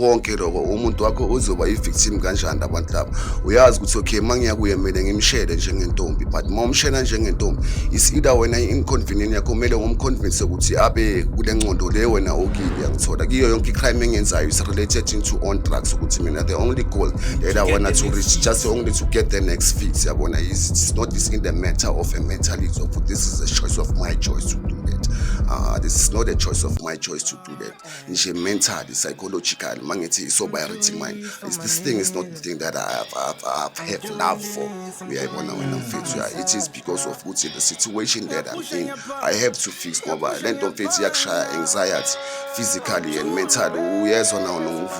konke lokho umuntu wakho uzoba i-victim kanjani abantu laba uyazi ukuthi okay uma ngiya kuye mina ngimshele njengentombi but uma umshela njengentombi isida wena i-inconvenient yakho kumele umconvince ukuthi abe kule ncondo le wena okile yangithola kiyo yonke i-crime engenzayo is related into on drugs ukuthi mina the only goal that i wanna to reach just only to get the next fix yabona it's not this in the matter of a mentality of this is a choice of my choice to do that uh, this is not a choice of my choice to do that nje mentally psychological uma ngithi i-sobriety mind is this thing is not the thing that I have, I have, I have, have love for uyayibona wena mfethu ya it is because of ukuthi the situation that I'm in I have to fix ngoba le nto mfethu iyakushaya anxiety physically and mentally uyezwa nawo nokuvuka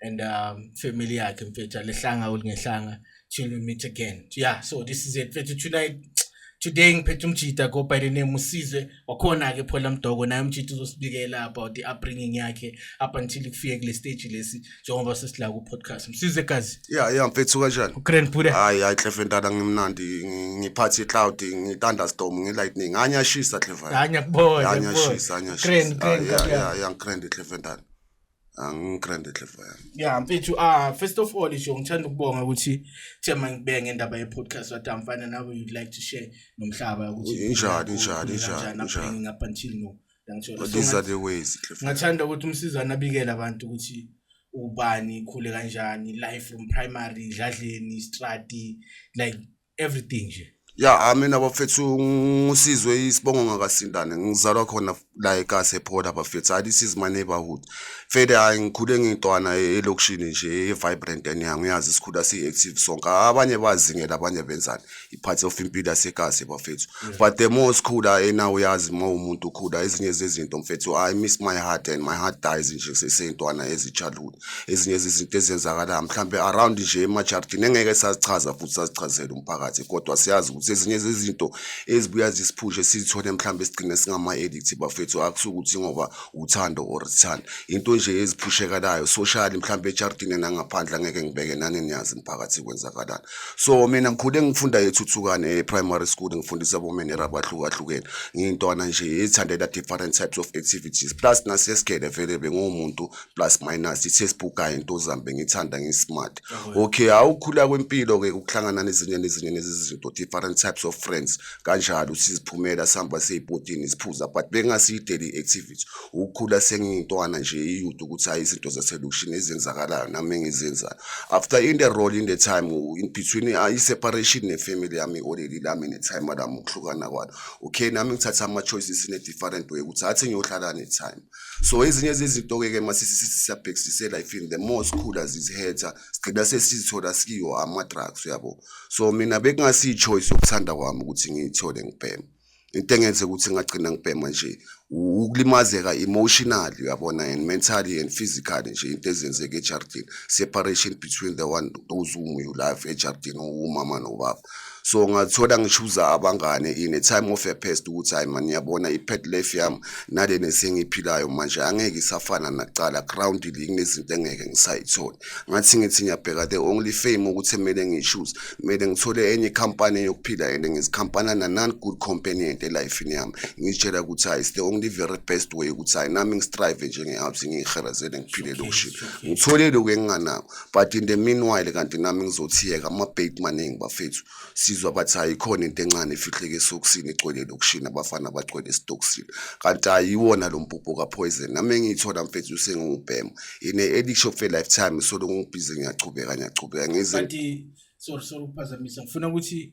and um family yakhe mfethu alehlanga ulingehlanga till we meet again yeah so this is it mfethu tonight today ngiphethe umjita go by the name usizwe wakhona-ke phola mdoko naye umjita uzosibikela about i-upbringing yakhe up until kufike kule stage lesi njengoba sesilaka ku-podcast msize gazi ya ya mfethu kanjani ugrand bude hayi hayi clefe ntana ngimnandi ngi- ngiphathi i-cloud ngi-thunderstorm ngi-lightning anyashisa clefe hanya kubona anyashisa anyashisa Grand, grand, Ah, ya- grand, ya- ya ngigrand clefe ntana angigrande clever yami yeah mfethu ah first of all nje ngithanda ukubonga ukuthi thema ngibenge indaba ye podcast wathi amfana nawe you'd like to share nomhlaba ukuthi injani injani injani injani up until no ngithola these are the ways clever ngathanda ukuthi umsizana abikele abantu ukuthi ubani khule kanjani life from primary dladleni strati like everything nje ya amina bafethu ngusizwe isibongo ngakasindane ngizalwa khona la ekasi ephola bafethu hayi this is my neighborhood fede hayi ngikhule ngintwana e-, elokishini nje e-vibrant enyango uyazi sikhula si-active sonke abanye bazingela abanye benzani i-part of impilo yasekasi bafethu but the more sikhula ena uyazi uma umuntu ukhula ezinye zezinto mfethu i miss my heart and my heart dies nje seseyintwana ezi-childhood ezinye izinto ezenzakalayo mhlawumbe around nje emajardini engeke sazichaza futhi sazichazele umphakathi kodwa siyazi ukuthi ezinye zezinto ezibuya zisiphushe sizithole mhlawumbe sigcine singama-edict bafethu akusuke ukuthi ngoba uthando or sithanda into nje eziphushekalayo socially mhlawumbe ejardini nangaphandle angeke ngibeke nani niyazi mphakathi kwenzakalani so mina ngikhule ngifunda ethuthukane e-primary school ngifundisa bomenera abahlukahlukene ngiyintwana nje ethandela different types of activities plus nasesigele vele benguwumuntu plus minus i-textbook kanye intozami bengithanda ngi-smart okay awukhula kwempilo-ke ukuhlangana nezinye nezinye nezizinto different types of friends kanjalo siziphumela sihamba seyibhodini siphuza but bengasiyi daily activity ukukhula sengiyintwana nje iyude ukuthi hayi izinto zaselokishini ezenzakalayo nami engizenzayo after in the role in the time in between ah, i-separation ne-family yami oleli lami ne-time lami ukuhlukana kwalo okay nami ngithatha ama-choices in a different way ukuthi athi ngiyohlala ne-time so ezinye zezinto-ke ke masisabhekisisela i feel the more sikhula ziziheta sigcina sesizithola sikiwo ama-drugs uyabo so mina bekungasiyi-choice yokuthanda kwami ukuthi ngiyithole ngibhema into engenze ukuthi ngagcina ngibhema nje ukulimazeka emotional uyabona and mentally and physically nje into ezenzeka ejardini separation between the one those whom you love ejardini umama nobaba so ngathola ngishuza abangane in a time of a past ukuthi hayi mani yabona i-pet life yami nale nesengiyiphilayo manje angeke isafana nakuqala groundly kunezinto engeke ngisayithole ngathi ngithi ngiyabheka the only fame ukuthi kumele ngishuze kumele ngithole enye ikhampani yokuphila and ngizikhampana nanan good companionent elifini yami ngitshela ukuthi hayi the only very best way ukuthi hayi nami ngistrive njengehabs ngiyiherezele ngiphile lokushini ngithole lokhu enginganako but in the meanwhile kanti nami ngizothiyeka amabheki maningi bafethu sizwa bathi hayi khona into encane efihleke esokisini igcwele lokushini abafana bagcwele esitokisini kanti ayiwona lo mpupho kapoison nami engiyithola mfethu usengiwubhema in a addiction of a lifetime solo ngibhize ngiyachubeka ngiyachubeka ngize sorry sorry ukuphazamisa ngifuna ukuthi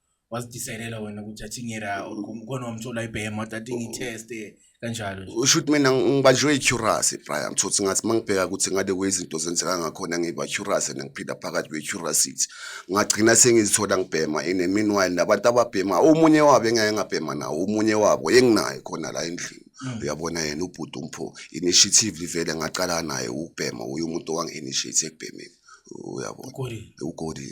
wazidisayilela wena ukuthi athi ngera khona wamthola ibhema wathi athi ngitheste kanjalo nje usho ukuthi mina ngibanjwe i-curus brian ngithothi ngathi uma ngibheka ukuthi ngade kwezinto zenzeka ngakhona ngiba curus and ngiphila phakathi kwe-curacity ngagcina sengizithola ngibhema in a meanwhile nabantu ababhema omunye wabo engake ngabhema nawo omunye wabo enginaye khona la endlini Mm. uyabona yena ubhuti umpho initiative livele ngaqala naye ukubhema uye umuntu owangi-initiate ekubhemeni uyabona ugodi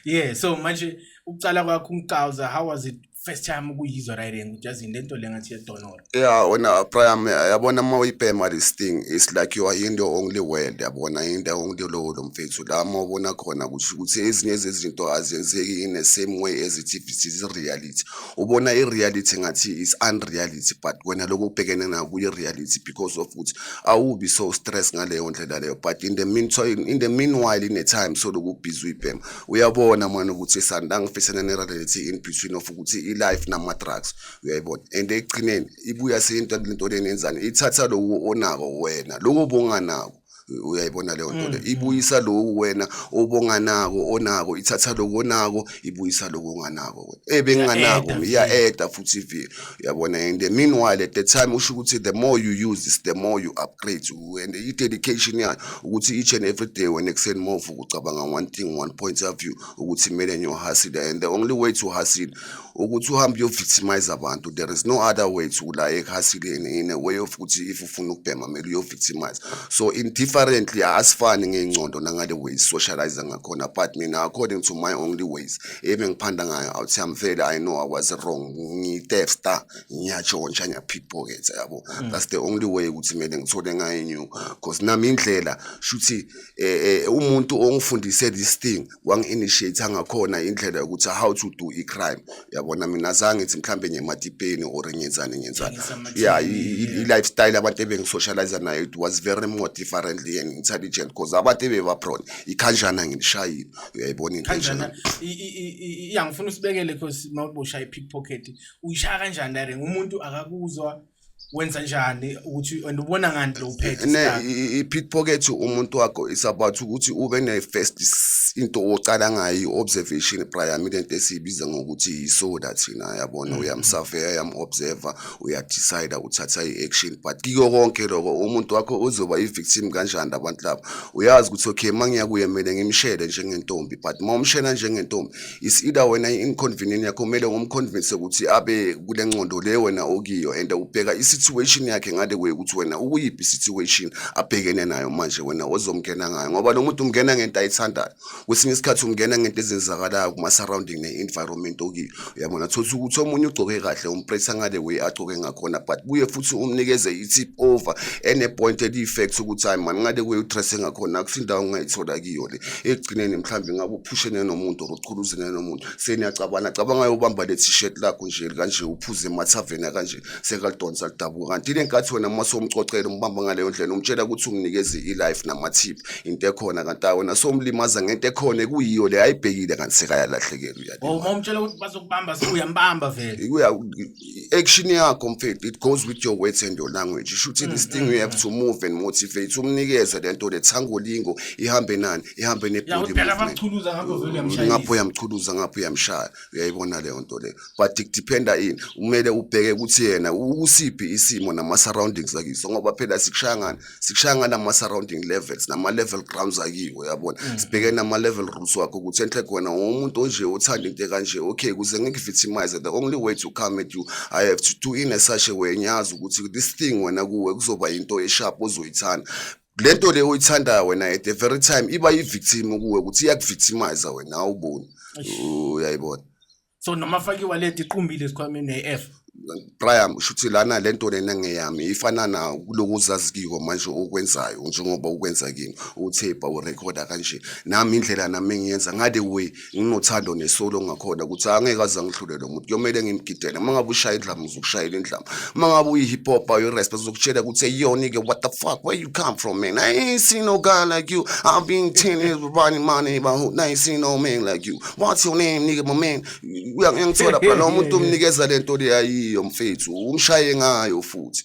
Yeah, so manje ukucala kwakho umcawuza how was it first time ukuyizwa right and just in lento lengathi yedonora. Yeah, wena Brian yabona uma uyibhema this thing it's like you are in the only world yabona in the only lowo lo mfethu la uma ubona khona ukuthi ukuthi ezinye zezinto azenzeki in the same way as it if it is reality. ubona i-reality ngathi is unreality but wena lokho ubhekene nayo kuyi-reality because of ukuthi awubi so stress ngaleyo ndlela leyo but in the meantime in the meanwhile in a time so lokhu ubhizi uyibhema uyabona mani ukuthi sanda ngifisana ne-reality in between of ukuthi i-life nama-drugs uyayibona and ekugcineni ibuya seyinto lento leni yenzani ithatha loku onako wena loku obonganako uyayibona leyo nto le mm. ibuyisa loku wena obonganako onako ithatha loku onako ibuyisa loku onganako wena ebenginganako eh, iya-eda futhi ivile uyabona and the meanwhile at the time usho ukuthi the more you use this the more you upgrade and i-dedication yayo ukuthi each and every day wena ekuseni move ucabanga one thing one point of view ukuthi kumele ngiyohasile and the only way to hustle ukuthi uhambe uyo-victimize abantu there is no other way to la ekhasini in a way of ukuthi if ufuna ukubhema kumele uyo-victimize so indifferently asifani ngey'ngcondo nangale ways socialize ngakhona but mina according to my only ways ebe ngiphanda ngayo awuthi amvele i know i was wrong ngitefsta ngiyatshontsha ngiyapickpocket yabo mm. that's the only way ukuthi kumele ngithole ngayo new because nami indlela shuthi eh, eh, umuntu ongifundise this thing wangi-initiate ngakhona indlela yokuthi how to do i-crime yabona mina zange ngithi mhlawumbe ngiyematipeni or ngenzani ngenzani ya i-lifestyle abantu ebengisocialize nayo it was very more differently and intelligent because abantu ebebaprone ikhanjana ngilishayile uyayibona into enjena iyangifuna usibekele because mawubusha i-pickpocket uyishaya kanjani dare umuntu akakuzwa wenza njani ukuthi and ubona ngani lo uphethe ne i-pickpocket umuntu wakho is about ukuthi ube ne-first into ocala ngayo i-observation prior mina into esiyibiza ngokuthi yisoda thina yabona mm. uyamsavea yam-observer uyadecida uthatha i-action but kiko konke loko umuntu wakho uzoba i-victim kanjani abantu laba uyazi ukuthi okay uma ngiyakuye kumele ngimshele njengentombi but uma umshela njengentombi is either wena inconvenient yakho kumele ngomconvince ukuthi abe kule nqondo le wena okiyo and ubheka isituation yakhe ngale kwe ukuthi wena ukuyiphi situation abhekene nayo manje wena ozomngena ngayo ngoba lo muntu umngena ngento ayithandayo kwesinye isikhathi umngena ngento ezenzakalayo kuma surrounding ne environment okiyo uyabona thothi ukuthi omunye ugcoke kahle umpresa ngale way agcoke ngakhona but buye futhi umnikeze itip over ene point eli fact ukuthi hayi man ngale kwe utresse ngakhona akusindawo ongayithola kiyo le ekugcineni mhlawumbe ngabe uphushene nomuntu or uqhuluzene nomuntu seniyacabana cabanga yobamba le t-shirt lakho nje kanje uphuze emathaveni kanje sekalidonsa lidabuka kanti ile nkathi wena uma somxoxela umbamba ngaleyo ndlela umtshela ukuthi umnikeze i-life namathiphu into ekhona kanti ayi wena somlimaza ngento ekhona ekuyiyo le ayibhekile kanti sekayalahlekelwa uyalima umtshela ukuthi bazokubamba sekuyambamba vele action yakho mfethu it goes with your words and your language isho ukuthi this thing you have to move and motivate umnikeze lento lethangolingo ihambe nani ihambe nebody ngapho uyamchuluza ngapho uyamshaya uyayibona leyo nto leyo but it dependa ini kumele ubheke ukuthi yena usiphi isimo nama surroundings akiso ngoba phela sikushaya ngani sikushaya nganama surrounding levels nama level grounds akiwo yabona mm. sibheke nama level rooms wakho ukuthi enhle khona umuntu onje othanda into kanje okay kuze ngikuvictimize the only way to come at you i have to do in a such a way ngiyazi ukuthi this thing wena kuwe kuzoba into esharp ozoyithanda lento le oyithandayo wena at the very time iba yi victim kuwe ukuthi iyakuvictimize wena awuboni uyayibona so noma fake iwallet iqumbile esikhwameni ne-f Brian ushuthi lana lento lena ngeyami ifana na kulokuzazi kiko manje okwenzayo njengoba ukwenza kimi uthepa urecorda kanje nami indlela nami ngiyenza ngale way nginothando nesolo ngakhona ukuthi angeke aze ngihlulele umuntu kuyomele ngimgidele uma ngabe ushaya indlama uzokushayela indlama uma ngabe uyi-hip hop uyi-resp uzokutshela ukuthi eyona ke what the fuck where you come from man i ain't seen no guy like you i've been ten years running money but i ain't seen no man like you uma wathi unenike momeni uyangithola phela noma umuntu umnikeza le nto le ayiyo mfethu umshaye ngayo futhi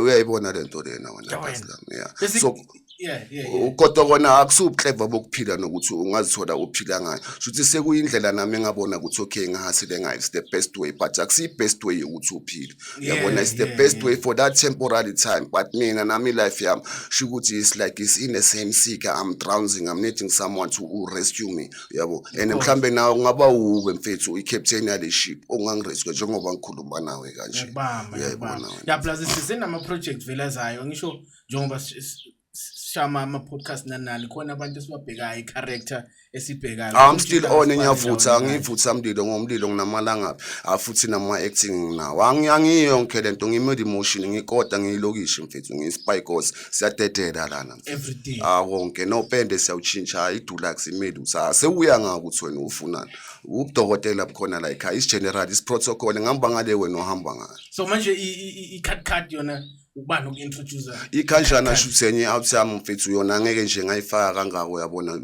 uyayibona le nto lena wena kazi lami ya so kodwa kona akusubuhleva bokuphila nokuthi ungazithola uphila ngayo shuthi sekuyindlela nami engabona ukuthi okay ngahasile ngayo it's the best way but akusiyi best way yokuthi uphile uyabona it's the best way for that temporary time but mina nami life yami shukuthi it's like it's in the same seeker i'm drowning i'm needing someone to rescue me yabo and mhlambe nawe kungaba wuwe mfethu i-captain yale ship ongangiriske njengoba ngikhuluma nawe kanje uyayibona ya plus sisenama-project vele azayo ngisho njengoba sishama ama-podcast nanani khona abantu esibabhekayo i-character esibhekayo i'm still on ngiyavutha ngivutha mlilo ngomlilo nginamalangabi afuthi nama-acting nginawo angiyo yonke le nto ngime-emotion ngikoda ngiyilokishi mfethu ngiyi-spy cause siyadedela lana everything ah konke no pende siyawutshintsha idulax imeli usa sewuya ngaka ukuthi wena ufunani ubudokotela bukhona la ekhaya is general is protocol ngihamba ngale wena uhamba ngale so manje i card card yona ubani oku-introduce ikhanjana shuthi enye out yami mfethu yona ngeke nje ngayifaka kangako uyabona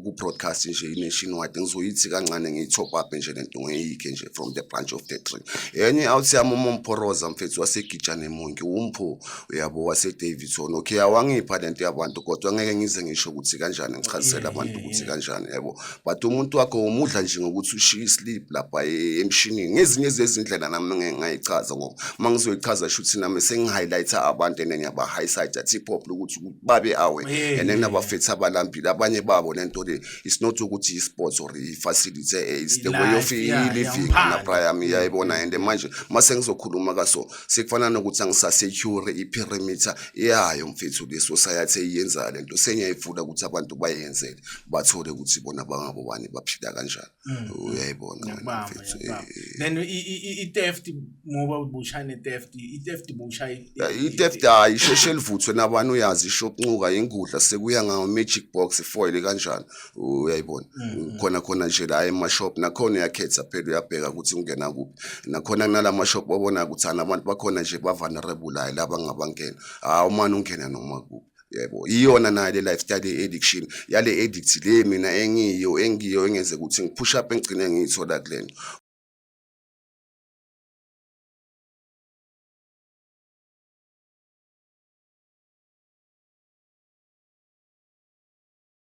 ku-broadcast nje i-nation wide ngizoyithi kancane ngiyi-top up nje le nto ngiyikhe nje from the branch of the tree enye out yami uma umphoroza mfethu wasegijane monki umpho uyabo wasedavison okay awangipha le nto yabantu kodwa ngeke ngize ngisho ukuthi kanjani ngichazisele abantu ukuthi kanjani yebo but umuntu wakho umudla nje ngokuthi ushiye islip lapha e- emshinini ngezinye zezindlela nami ngeke ngayichaza ngoba uma ngizoyichaza shuthi nami sengi-highlighta abantu and ngiyaba-highsida tipop lokuthi babe awe and then abafethi abalambile abanye babo le nto le it's not ukuthi i-sports or i-facility eh, it's the way of Life, yeah, i-living yeah, naphaya yami yayibona and manje uma sengizokhuluma kaso sekufana nokuthi angisasecure iperimeter yayo mfethu le society eyenza lento sengiyayifuna ukuthi abantu bayenzele bathole ukuthi bona bangabo bani baphila kanjani mm. uyayibona mfethu eh, eh. then i-theft ngoba ubushane theft i-theft busha i-theft hayi isheshe livuthwe nabani uyazi ishokuncuka ingudla sekuya ngawo magic box foil kanjani uyayibona mm. khona khona nje la emashop nakhona uyakhetha phela uyabheka ukuthi ungena kuphi nakhona kunala mashop babona ukuthi ana abantu bakhona nje bavulnerable la laba ngabangena hawu manje ungena noma kuphi yebo iyona nayo le lifestyle addiction yale addict le mina engiyo engiyo engenze ukuthi ngipush up engigcine ngiyithola kulento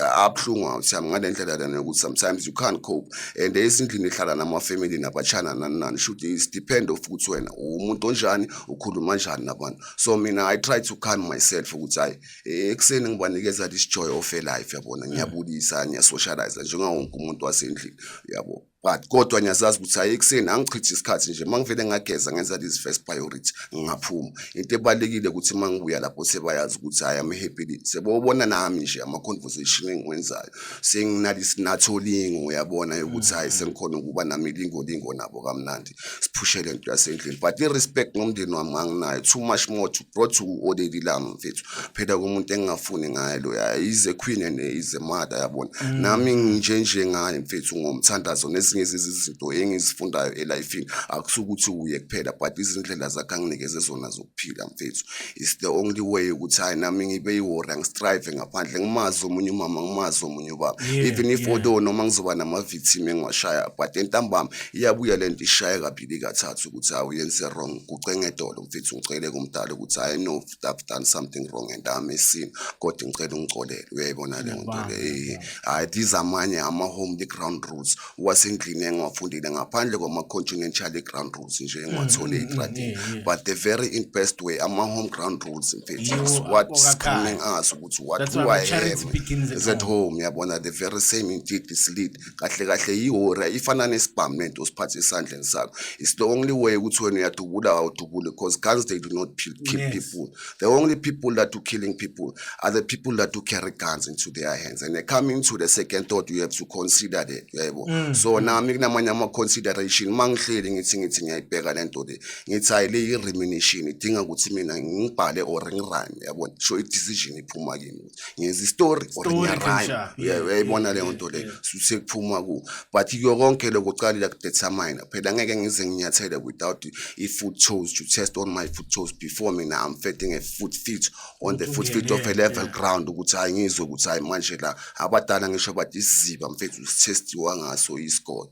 abuhlungu awuthami ngale ndlela lena yokuthi sometimes you can't cope and esindlini ihlala namafamily nabatshana nani nani should is depend of ukuthi wena umuntu onjani ukhuluma kanjani nabantu so mina i try to calm myself ukuthi hayi ekuseni ngibanikeza this joy of a life yabona ngiyabulisa ngiyasocialize njengawonke umuntu wasendlini yabo but kodwa ngiyazazi ukuthi hayi ekuseni angichithe isikhathi nje uma ngivele ngageza ngenza these first priority ngingaphuma into ebalulekile ukuthi uma ngibuya lapho sebayazi ukuthi hayi am happy sebobona nami nje ama-conversation engiwenzayo senginalisinathi olingo uyabona yokuthi hayi sengikhona ukuba nami lingolingo nabo kamnandi siphushe le nto yasendlini but i-respect ngomndeni wami nganginayo too much more to brought to already lami mfethu phela kumuntu engingafuni ngaye loya ize queen and ize mother yabona mm. nami nginjenje ngaye mfethu ngomthandazo nezinye izinto engizifundayo elifini akusukuthi uye kuphela but izindlela zakhe anginikeze zona phila mfethu is the only way ukuthi hayi nami ngibe iwori angistrive ngaphandle ngimazi omunye umama ngimazi omunye ubaba yeah, even if yeah. although noma ngizoba nama-victim engiwashaya but entambama iyabuya le nto ishaye kabili kathathu ukuthi hawu yenze wrong kucenge edolo mfethu ngicele kumdala ukuthi hayi no i've done something wrong and i'm esini kodwa ngicela ungicolele uyayibona le nto le eh, hayi these amanye ama-home the ground rules wasendlini engiwafundile ngaphandle kwama-continental i-ground rules nje engiwathole mm, mm, eyitradi mm, but the very in best way ama-home ground rules mfethu what screaming us ukuthi what do i have is at home yabona the very same indeed this lead kahle kahle yihora ifana nesibhamu nento osiphathe esandleni sakho it's the only way ukuthi wena uyadubula awudubule because guns they do not kill people The only people that do killing people are the people that do carry guns into their hands. And they're coming to the second thought, you have to consider that. Yebo. Mm. So mm. nami kunamanye ama consideration mangihleli ngithi ngithi ngiyayibheka lento le. Ngithi hayi le i-remuneration idinga ukuthi mina ngibhale or ngirime yabona. So i-decision iphuma kimi. ngenza istory or ngiyarhyme uyayibona leyo nto leyo sekuphuma ku but kuyo konke lokho uqalile kudetermine phela ngeke ngize nginyathele without i-food chose to test on my food chose before mina i'm fetting a food fit on the food fit of a level ground ukuthi hayi ngizwe ukuthi hayi manje la abadala ngisho bathi isiziba mfethu sithestiwa ngaso isikole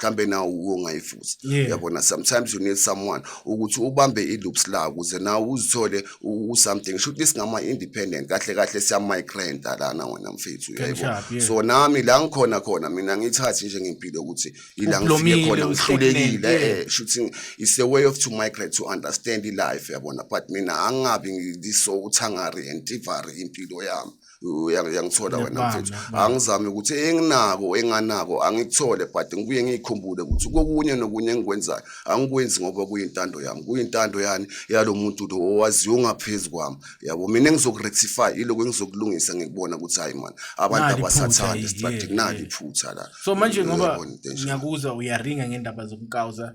mhlambe nawe uyongayifuza uyabona sometimes you need someone ukuthi ubambe i-loops la ukuze nawe uzithole u-something sho ukuthi singama-independent kahle kahle siyamigranta lana wena mfethu uyayibona so nami la ngikhona khona mina ngiyithathi nje ngempilo ukuthi ila ngifike khona ngihlulekile eh, eh, shuthi it's a way of to migrate to understand i-life yabona but mina angingabi ngiso uthangari and tivari impilo yami uyangithola wena mfethu angizame ukuthi enginako enganako angikuthole but ngibuye ngiyikhumbule ukuthi kokunye nokunye engikwenzayo angikwenzi ngoba kuyintando yami kuyintando yani yalo muntu lo owaziyo ongaphezu kwami yabo mina engizokurectify iloko engizokulungisa ngikubona ukuthi hayi mani abantu abasathandi strategy nali iphutha la so manje ngoba ngiyakuzwa uyaringa ngendaba zokukawuza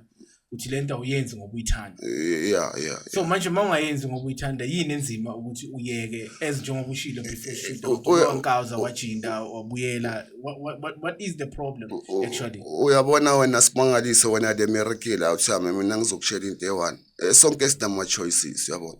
uthi le nto awuyenzi ngoba uyithanda eh, yeah yeah so manje uma ungayenzi ngoba uyithanda yini enzima ukuthi uyeke as njengoba ushilo before shoot unkawuza wajinda wabuyela what is the problem actually uyabona wena simangaliso wena le merekile awuthi mina ngizokushela into eyi-one eh, sonke sinama-choices uyabona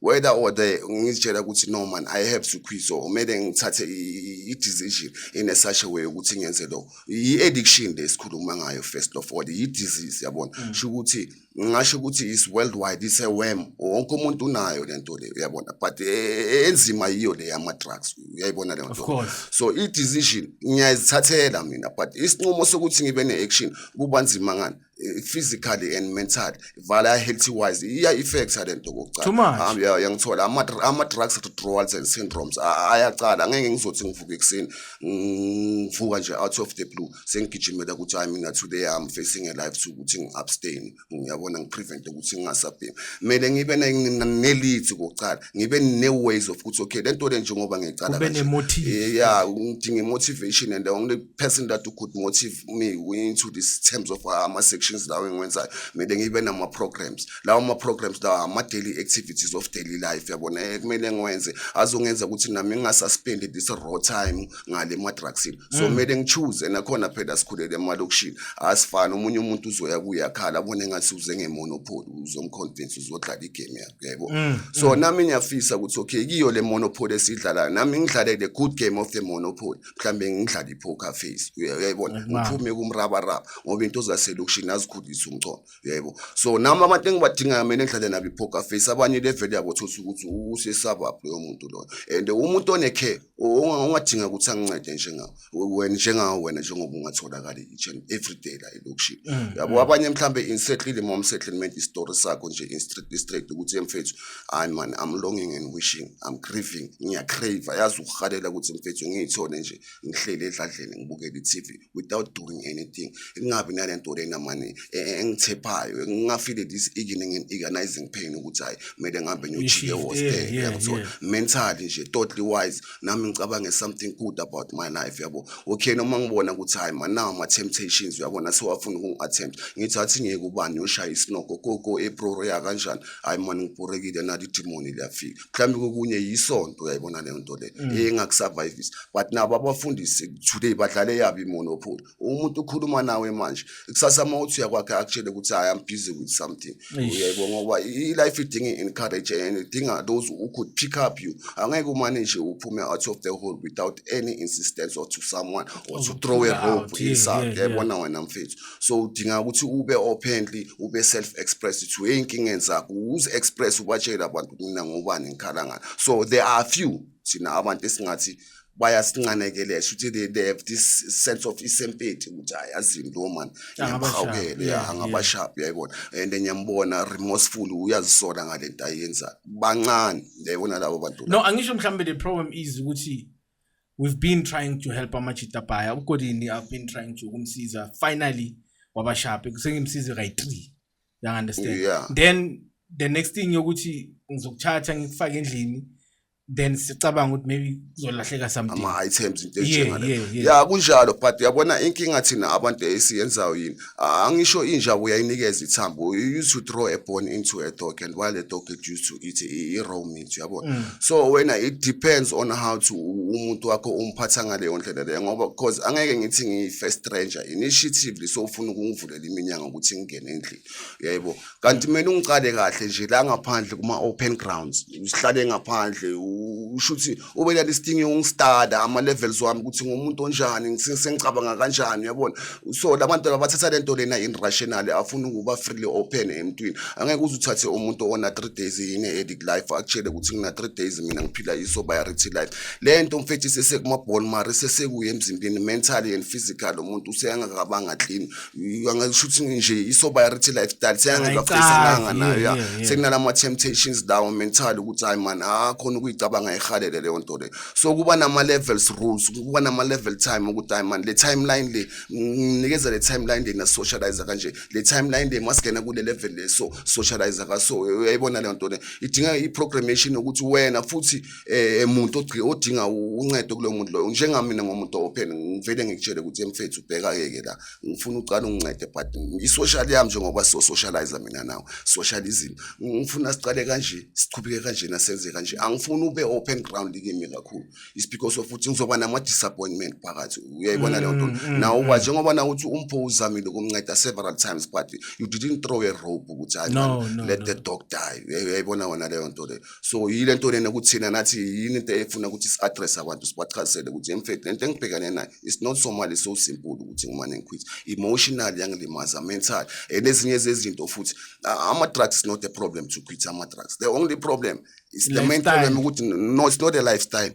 whether or the ngizitshela ukuthi no man i have to quit so kumele ngithathe i-decision in a such a way ukuthi ngenze lo i-addiction le sikhuluma ngayo first of all yi-disease yabona mm. sho ukuthi ngingasho ukuthi is worldwide is a worm wonke umuntu unayo le nto le uyabona but e, e, enzima yiyo le yama-drugs uyayibona leyo nto so i-decision ngiyayizithathela mina but isinqumo sokuthi ngibe ne-action kuba nzima ngani eh, physically and mentally vala healthy wise iya effecta lento kokucala yangithola ama ama drugs withdrawals and syndromes ayacala ngeke ngizothi ngivuka ekuseni ngivuka nje out of the blue sengigijimela ukuthi hayi mina today i'm facing a life to ukuthi ngiabstain ngiyabona ngiprevent ukuthi ngingasabhemi kumele ngibe nelithi kokucala ngibe ne ways of ukuthi okay lento le njengoba ngiyicala kanje yeah ngidinga motivation and ngile person that who could motive me into these terms of uh, ama-sections lawo engiwenzayo kumele ngibe nama-programs lawo ma-programs lawo ama-daily activities of daily life yabona eh, kumele ngiwenze azongenza ukuthi nami ngingasaspendi this raw time ngale ma-drugsini so mm. kumele mm. ngichoose nakhona phela sikhulele emalokishini asifani omunye umuntu uzoya kuye akhala abone ngathi uze ngemonopoli uzomconvince uzodlala igame yakho yebo mm. so mm. nami ngiyafisa ukuthi okay kiyo le monopoli esidlalayo nami ngidlalele good game of the monopoli mhlawumbe ngidlale i-poker face uyayibona ngiphume kumrabaraba ngoba into zaselokishini azikhulise umcono uyayibona so nami abantu engibadingayo mina ngidlale nabo i-poker face abanye level yabo thotha ukuthi usesabab loyo muntu loyo and umuntu onekhe ongadinga ukuthi angincede njengawo wena njengawo wena njengoba ungatholakali each and every day la elokishini mm, yabo mm. abanye mhlawumbe insetlile mom settlement istory sakho nje straight ukuthi emfethu hayi mani i'm longing and wishing i'm grieving ngiyacrave yazi ukuhalela ukuthi mfethu ngiyithole nje ngihleli edladleni ngibukele i-tv without doing anything kungabi nale nto lena mani e, e, engithephayo ngingafile this evening and agonizing pain ukuthi hhayi kumele ngihambe ngiyojike hostel yangithola mentally nje totally wise nami ngicabange something good about my life yabo okay noma ngibona ukuthi hhayi manawo ama-temptations uyabona sewafuna ukungi-attempt ngithi athi ngeke ubani uyoshaya isinoko koko eproro yakanjani hayi mani ngibhorekile nali idimoni liyafika mhlawumbe kokunye yisonto uyayibona leyo nto leyo mm. engakusurvivisa but nabo abafundisi today badlale yabo imonopoly umuntu ukhuluma nawe manje kusasa uma uthi uyakwakhe akutshele ukuthi hayi am busy with something uyayibona ngoba i-life idinga i-encourage and idinga those who could pick up you angeke umane nje uphume out of the hole without any insistence or to someone or to throw a rope inside yayibona wena mfethu so udinga ukuthi ube openly ube self express to hey inkinga enzakho uze express ubatshela abantu mina ngobani ngikhala ngani so there are few sina abantu esingathi bayasincanekelela ukuthi they, they have this sense of isempeti ukuthi hayi azini lo man ngiyamhawukele ya angabashapi yayibona and ngiyambona remorseful uyazisola ngalento ayenza bancane ndiyayibona labo bantu no angisho mhlawumbe the problem is ukuthi we've been trying to help amachitabhaya ugodini i've been trying to ukumsiza finally wabashape sengimsize kayi-3 yang understand yeah. then the next thing yokuthi ngizokuthatha ngikufake endlini then sicabanga ukuthi maybe kuzolahleka something ama-items into enjengale ya kunjalo but yabona inkinga thina abantu esiyenzayo yini angisho inja uyayinikeza ithambo you used to throw a bone into a dog and while a dog get used to it i-raw meat yabo mm. so wena it depends on how to umuntu wakho umphatha ngaleyo ndlela leyo ngoba because angeke ngithi ngiyi-first stranger initiatively so ufuna ukungivulela iminyanga ukuthi ngingene endlini yebo kanti kumele ungicale kahle nje la ngaphandle kuma-open grounds usihlale ngaphandle usho ukuthi ubelala isidingo yokungistada ama-levels wami ukuthi ngumuntu onjani sengicabanga kanjani uyabona so la bantu abathatha le nto lena in rationally afuna ukuba freely open emntwini angeke uze uthathe umuntu ona-three days yine edic life akutshele ukuthi ngina-three days mina ngiphila isobiarity life le nto mfethi sesekumabhonmari sesekuye emzimbeni mentally and physical umuntu useyangakabanga clean angasho ukuthi nje i-sobriety lifestyle seyangezafesananga nayo ya sekunalama-temptations lawo mental ukuthi hayi mani ha khona ukuyicabanga ihalele leyo nto leyo so kuba nama-levels rules kuba nama-level time ukuthi hayi mani le timeline le nginikeza le timeline le ngasocialize kanje le timeline le masingena kule level le so socialize kaso uyayibona leyo nto le idinga i-programmation yokuthi wena futhi eh muntu odinga uncedo kulo muntu loyo njengamina ngomuntu open ngivele ngikutshele ukuthi mfethu ubheka yeke la ngifuna uqala ungincede but i-social yami njengoba so socializer mina nawe social izinto ngifuna siqale kanje siqhubeke kanje nasenze kanje angifuni ube open ground kimi kakhulu is because of ukuthi ngizoba nama disappointment phakathi uyayibona leyo nto mm, mm, nawo mm. njengoba na uthi umpho uzamile ukumnceda several times but you didn't throw a rope ukuthi hayi let the dog die uyayibona wona leyo nto leyo so yile nto lena ukuthi thina nathi yini into efuna ukuthi si-address abantu sibachazisele ukuthi emfethu lento engibhekane nayo it's not so mali so simple ukuthi ngimane ngikhwithe emotional yangilimaza mental and ezinye zezinto futhi ama-drugs is not a problem to quit ama-drugs the only problem is the main problem ukuthi no it's not a lifestyle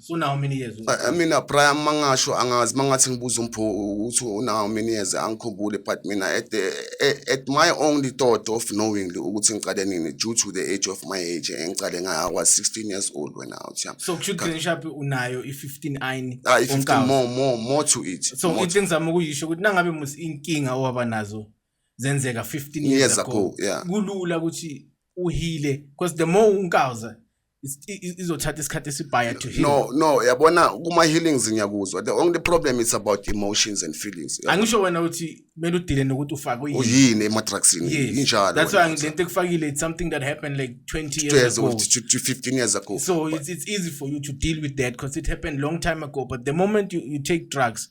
so nawo minikeze I mean Brian mangasho angazi mangathi ngibuza umpho uthi unawo minikeze angikhumbule but mina at the at my only thought of knowing ukuthi ngiqale nini due to the age of my age engiqale ngaya kwa 16 years old when out yeah so kusho ukuthi ngishapi unayo i15 ayini ah 15 more more more to it so into engizama ukuyisho ukuthi nangabe musi inkinga owaba nazo zenzeka 15 years, years ago, ago yeah. kulula ukuthi uhile because the more unkawuza izothatha isikhathi esibhaya to heal no no yabona kuma healings ngiyakuzwa the only problem is about emotions and feelings angisho wena uthi kumele udile nokuthi ufake uyini uyini ema drugs injalo that's why ngilento ekufakile it's something that happened like 20 years, years ago to, to 15 years ago so but, it's, it's easy for you to deal with that because it happened long time ago but the moment you, you take drugs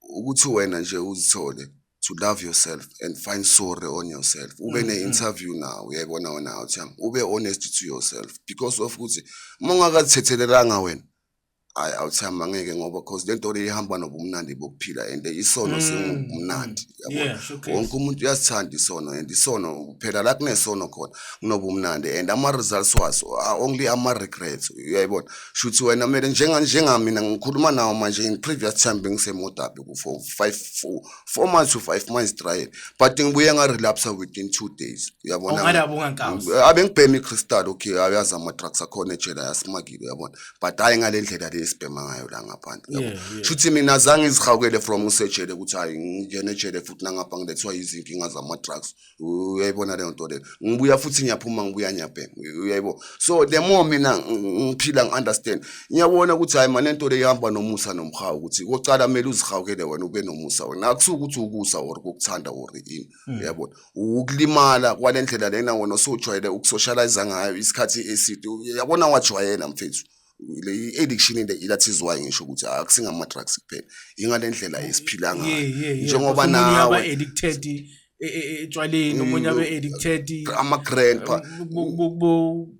ukuthi wena nje uzithole to love yourself and find sorry on yourself ube mm-hmm. ne-interview nawo uyayibona wena uthi ube honest to yourself because of ukuthi uma ungakazithethelelanga wena hayi awuthi angeke ngoba cause le nto le ihamba nobumnandi bokuphila and isono mm. singubumnandi yabona wonke umuntu uyasithanda isono and isono phela la kunesono khona kunobumnandi and ama-results waso only ama-regrets uyayibona shuthi wena kumele njengamina ngikhuluma nawo manje in previous time bengisemodabi for five four, four months to five months trial but ngibuye ngarelapsa within two days uyabona abengibhema i-crystal okay ayazi ama-drugs akhona ejela yasimakile uyabona but hayi ngale ndlela le esibhema ngayo la ngaphandle yabo Yeah, yeah. shuthi mina zange izihawukele from usejele ukuthi hayi ngingena ejele futhi nangapha ngilethwa izinkinga zama-drugs uyayibona leyo nto leyo ngibuya futhi ngiyaphuma ngibuya ngiyabhema uyayibo so the more mina ng- ngiphila ngi-understand ngiyabona ukuthi hayi mane nto le ihamba nomusa nomhawu ukuthi kocala kumele uzihawukele wena ube nomusa wena akusuke ukuthi ukusa or kokuthanda or ini Mm. yabona ukulimala kwale ndlela lena wona osujwayele ukusocializa ngayo isikhathi eside yabona wajwayela mfethu le addiction le ilathizwayo ngisho ukuthi akusingama drugs kuphela ingale ndlela esiphila ngayo njengoba nawe addicted etshwaleni omunye abe addicted ama grandpa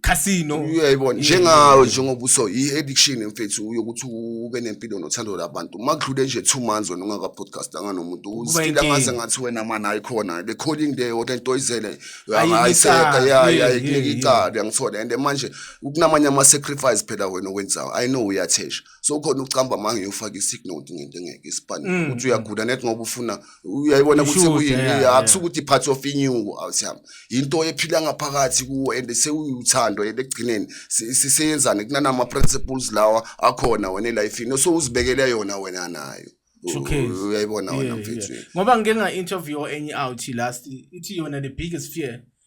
casino uyayibona njengawe njengoba uso i-addiction mfethu uyokuthi ube nempilo nothando labantu uma kudlule nje two months wena ungaka-podcastanga nomuntu uzifile angaze ngathi wena mani ayikhona the calling there kodwa into oyizele ayiseka yayikunike icala uyangithola and manje kunamanye ama-sacrifice phela wena owenzayo i know uyathesha so khona ucamba manje uyofaka isick note ngento engeke isibhani mm. ukuthi uyagula net ngoba ufuna uyayibona ukuthi kuyini akusuka ukuthi part of inyuko awusihamba into ephila ngaphakathi kuwo and sewuyuthando ekugcineni siseyenzane kunana ama principles lawa akhona wena life ino so uzibekele yona wena nayo uyayibona wena mfethu ngoba ngike nga interview enye out last ithi yona the biggest fear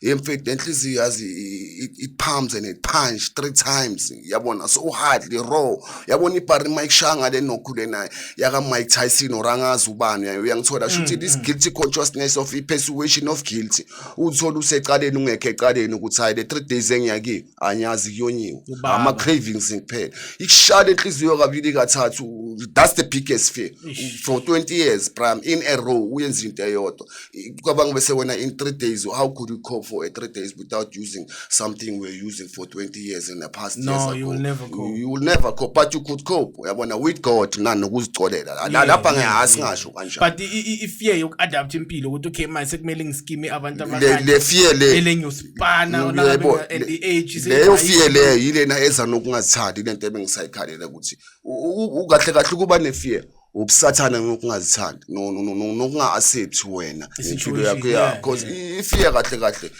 hey mfethu nenhliziyo yazi it pumps and it punch three times yabona so hardly raw yabona ibhari mike shanga le nokhu lena yaka mike tyson or angazi ubani yayo uyangithola sho ukuthi mm, this mm. guilty consciousness of i persuasion of guilty uthola usecaleni ungekho ecaleni ukuthi hayi le three days engiyakiyo anyazi kuyonyiwe ama cravings kuphela ikushala enhliziyo kabili kathathu that's the biggest fear for 20 years prime in a row uyenza into eyodwa kwabanga bese wena in 3 days how could you cope for a 3 days without using something we're using for 20 years in the past no, years ago you will never cope you will never cope but you could cope uyabona with God nani nokuzicolela lapha ngehasi ngasho kanjalo but i fear yoku adapt impilo ukuthi okay manje sekumele ngiskime abantu abanye le fear le bana Uyayibo- olabeka and the age is- leyo fiye leyo yilena eza nokungazithandi lento ebengisayikhalela ukuthi u- u- u- kahle kahle ukuba nefiye ubusathane nokungazithandi no- no- no- no- nokunga-accept wena impilo yakho Situation, ya yeah, because ifiye kahle kahle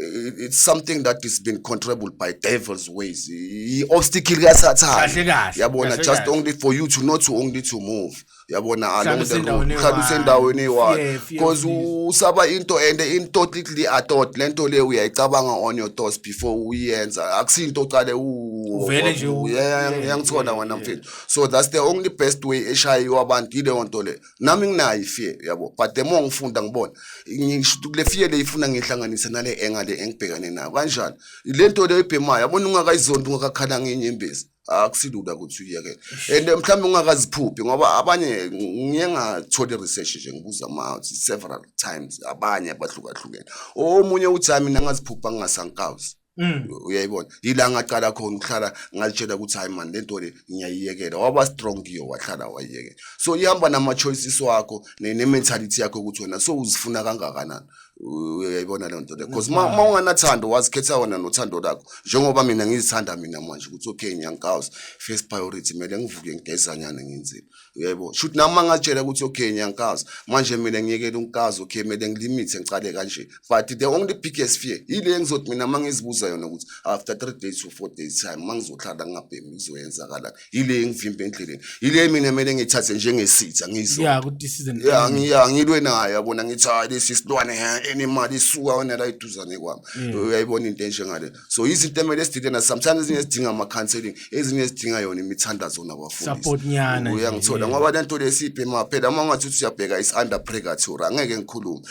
eh, it's something that is been controllable by devil's ways i-obstacle kasathane Kahle kahle, yabona kahle just kahle. only for you to not to only to move yabona Mhlawumbe usendaweni mhlawumbe eyi-one. usendaweni eyi-one Fear, fear because of this. usaba into and into titly atot le nto le uyayicabanga on your thoughts before uyenza akusinto oqale u- Uvele nje u- Yeah, yeah, ngiyangithola yeah, wena yeah. mfethu so that's the only best way eshayiwa abantu yileyo nto le nami nginayo ifear yabo but the more ngifunda ngibona ngisho ukuthi le fear le ifuna ngihlanganise nale enga le engibhekane nayo kanjani le nto le ebhemayo yabona ungakayizondi ungakakhala ngenyembezi akusilula ukuthi uyekele and mhlawumbe ungakaziphuphi ngoba abanye ngiye ngathole research nje ngibuza ama several times abanye abahlukahlukene omunye uthi hayi mina ngaziphupha ngingasankawuzi Mm. uyayibona yila ngaqala khona ukuhlala ngalitshela ukuthi hayi mani lento le ngiyayiyekela waba strong kiyo wahlala wayiyekela so ihamba nama-choices wakho ne-mentality yakho ukuthi wena so uzifuna kangakanani uyayibona leyo nto leyo because ma ma unganathando wazikhetha wena nothando lakho njengoba mina ngizithanda mina manje ukuthi okay nyankaws first priority kumele ngivuke ngigezanyana ngenzile uyayibona shuthi nami mangatshela ukuthi okay nyankaws manje mina ngiyekela unkazi okay kumele ngilimithe ngicale kanje but the only biggest fear yile engizothi mina mangizibuza yona ukuthi after 3 days to 4 days time mangizohlala ngingabhemi kuzoyenzakalani yile engivimbe endleleni yile mina kumele ngithathe njengesitha ngizwa ya ukuthi season ya ngiya ngilwe naye yabona ngithi hayi lesi silwane enemali isuka wena la iduzane kwami uyayibona into enje ngale so izinto emele esididena sometimes ezinye sidinga ama counseling ezinye sidinga yona imithandazo nabafundisi support nyana uyangithola ngoba lento lesiphe maphela uma ungathi usiyabheka is under purgatory angeke ngikhulume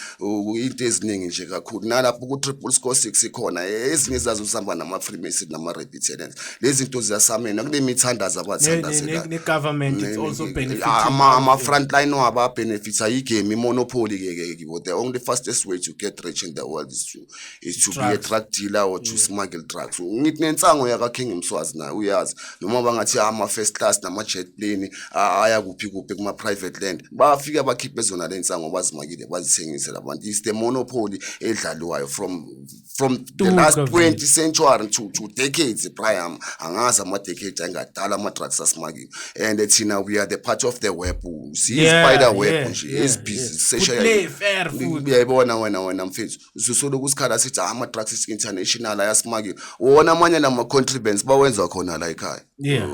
into eziningi nje kakhulu nalapho ku triple score 6 ikhona ezinye zazo sihamba nama freemason nama red Ithenense. Lezi zinto ziyasamena kunemithandazo akwathandaze la. Ne government it's also benefit. Ama ama frontline waba benefits ayigame monopoly ke ke kibo. The only fastest way to get rich in the world is to is to be a drug dealer or to smuggle drugs. Ngithi nensango yaka King Mswazi naye uyazi. Noma bangathi ama first class nama jet plane aya kuphi kuphi kuma private land. Bafika bakhiphe zona lensango bazimakile bazithengise labantu. It's the monopoly edlalwayo from from the last 20 century to, to decades priam angazi ama-decade angadala ama-drugs asimakiwe and thina we are the part of the web siyi-spider web nje ezibhizi seshayuyayibona wena wena mfethu sisoloku sikhala sithi ah, ama-drugs is international ayasimakiwe wona amanye la ma-contribants bawenza khona la ekhaya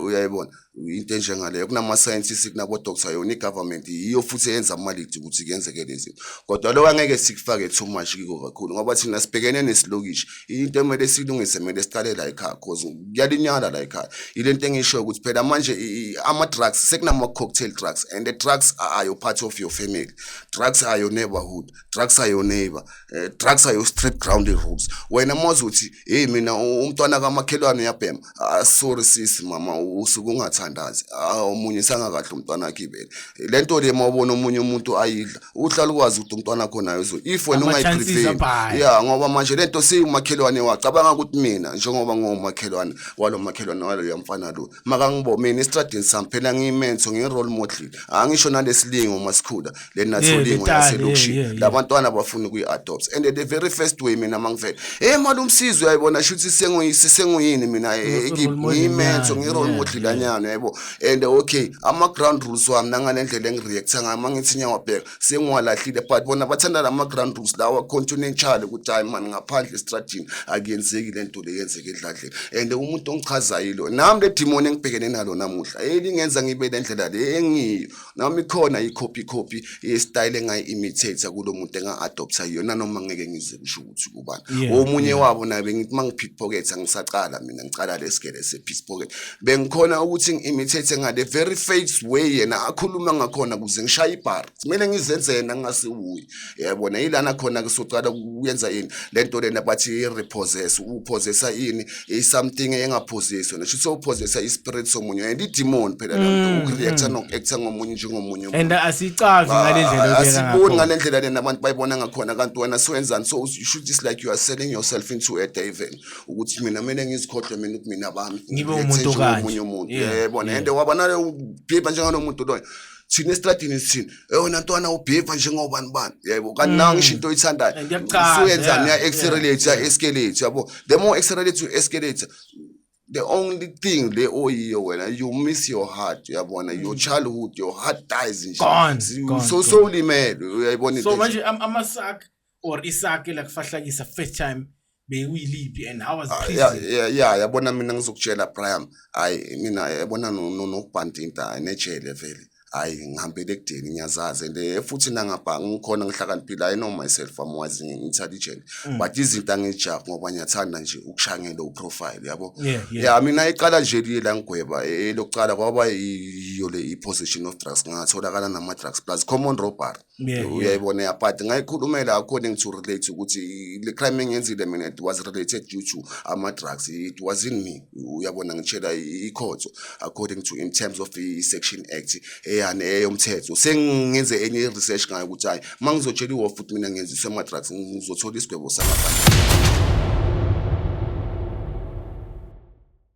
uyayibona into enjengaleyo kunama-scientist kunabo-doctor yona i-government yiyo futhi eyenza amalidi ukuthi kuyenzeke lezi zinto kodwa lokho angeke sikufake too much kiko kakhulu ngoba thina sibhekene nesilokishi into emele silungise kumele siqale la ekhaya cause kuyalinyala la ekhaya yile nto engishoyo ukuthi phela manje ama-drugs sekunama-cocktail drugs and the drugs are your part of your family drugs are your neighborhood drugs are your neighbor uh, drugs are your street ground rules wena mazi ukuthi heyi mina umntwana kamakhelwane uyabhema ah sorry sis mama usuke ungathandazi ah omunye sangakahle umntwana wakhe ibele le nto le mawubona omunye umuntu ayidla uhlala ukwazi ukuthi umntwana wakho nayo so if wena ungayiprevent yeah ngoba manje le nto siyumakhelwane wacabanga ukuthi mina njengoba ngomakhelwane walo makhelwane walo yamfana lo makangibo mina estradini sami phela ngiyimenso ngiyirole model angisho nalesilingo masikhula leni Yeah, nathola ingo letali, yaselokishini yeah, yeah, la bantwana bafuna ukuyi-adopts and the very first way mina uma ngivele hey mali umsizi uyayibona shuthi senguyi- sisenguyini mina eh, Role ekip- model ngiyimenso nyana, ngi-role yeah, model lanyana yebo and okay ama-ground rules wami nanganendlela engi-reacta ngayo uma ngithi nyawabheka sengiwalahlile but bona bathanda la ma-ground rules lawa continentshale ukuthi hayi mani ngaphandle estradini akuyenzeki le nto le yenzeke edladleni and umuntu ongichazayo ilo nami le dimoni engibhekene nalo namuhla elingenza ngibe le ndlela le engiyo nami khona i-copy copy yesitayile engayi-imitator kulo muntu enga-adoptha yona noma ngeke ngize kusho ukuthi kubani omunye wabo naye bengithi uma ngipickpocket angisacala mina ngicala lesigele sepickpocket bengikhona ukuthi ngi-imitate ngale very face way yena akhuluma ngakhona kuze ngishaye ibhari kumele ngizenze yena ngingasiwuyi yabona yilana khona kusocala kuyenza yini le nto lena bathi i-repossess uphozesa ini i-something engaphoziswa nesho ukuthi uphozesa i-spirit somunye and idimoni phela la nto mm, uku-reacta mm. noku-acta ngomunye njengomunye and asicazi ngale ndlela ah, asiboni ngale ndlela lena abantu bayibona ngakhona kanti wena siwenzani so you should just like you are selling yourself into a diven ukuthi mina kumele ngizikhohlwe mina ukuthi mina bami ngibe umuntu kanje omunye umuntu yabona and wabona bhibha njengalomuntu loyo thina esitradini sithini eyona ntwana ubheva njengobani bani yebo kanti nawe ngisho into oyithandayo usuyenzani uya-accelerate uya-escalate yabo the more accelerate u-escalate the only thing le oyiyo oh, wena you miss your heart uyabona your mm. childhood your heart dies nje so so ulimele uyayibona so manje amasakhe or isake la kufahlakisa first time bewuyiliphi and how was ah, prison yeah yeah yabona mina ngizokutshela Brian hayi mina yabona nokubhandinta nejele vele hayi ngihambele ekudeni ngiyazazi and eh, futhi nangabhanga ngikhona ngihlakaniphile i know myself i'm wise intelligent mm. but izinto angijah ngoba ngiyathanda nje ukushangela uprofile yabo yeah mina iqala nje liye la ngigweba eh, elokuqala kwaba yiyo le i-position of drugs ngatholakala nama-drugs plus common robbery Yeah, uyayibona yeah. but ngayikhulumela according to relate ukuthi le crime engenzile mina it was related due to ama drugs it was in me uyabona ngitshela ikhotho according to in terms of the section act eyane eyomthetho sengenze enye research ngayo ukuthi hayi mangizotshela iwo futhi mina ngenziswe ama drugs ngizothola isigwebo sangaphandle